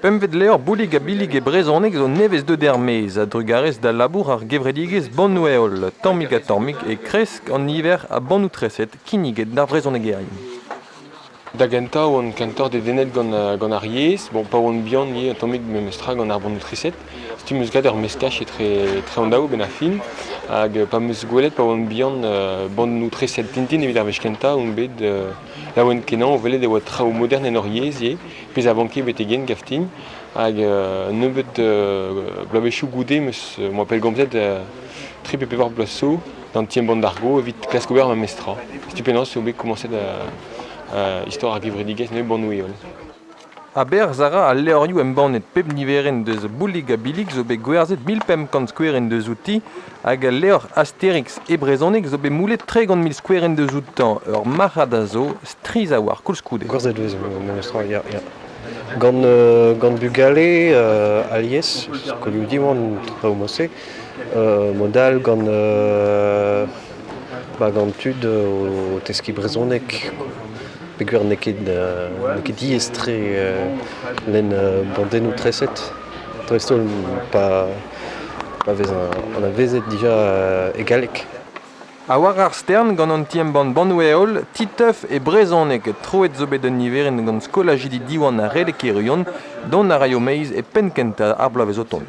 Pempvet levr Boulig ha Billig e brezhoneg zo nevez-deuet er-maez a-drugarez da labour ar gevredigezh Bannoù-heol. Tammig ha tammig e kresk an niver a bannoù-treset kinniget d'ar vrezhonegerien. Da gentañ oan kentoc'h dedennet gant, gant ar yezh. Bon, pa oan bihan ivez tammig memestra gant ar bannoù-treset. Stumm eus gat ur meskaj etre, etre an daou benn ar fin. Hag pa 'm eus gwelet pa oan bihan bannoù-treset Tintin evit ar wech kentañ on bet Laouen-kenañ o welet e oa traoù modern en hor yezh ivez, pezh a vanke betek yen gaftin. Hag nebeut bloavezhioù goude em boa pellgomzet tri pe pevar bloaz zo d'an ti-embann-bargo evit klask ober ma mezh tra. Setu penaos eo bet komañset istor ar gevredigezh nevez bannoù-heol. Aberzh a ra al levrioù embannet pep niverenn deus Boulig-ha-Billig zo bet gwerzhet mil pemp kant skouerenn deuzouti hag al levr Astérix e brezhoneg zo bet moulet tregont mil skouerenn deuzoutañ. Ur marc'had a zo, strizh a-walc'h koulskoude. Gwerzhet e vez memestra, ya, ya. Gant, euh, gant bugale euh, alies, skolioù Diwan, traoù mod-se, euh, mod all gant euh, Bag an tud o teskiñ brezhoneg peogwir n'eo ket diaes-tre lenn bandennoù treset dreist-holl pa vez anavezet dija e galleg. Ha war ar stern gant an ti-embann Bannoù-heol Titeuf e brezhoneg. Troet zo bet un niverenn gant skolajidi Diwan ha Redek-Irion. Dont a raio meiz e penn-kentañ ar bloavezh o tont.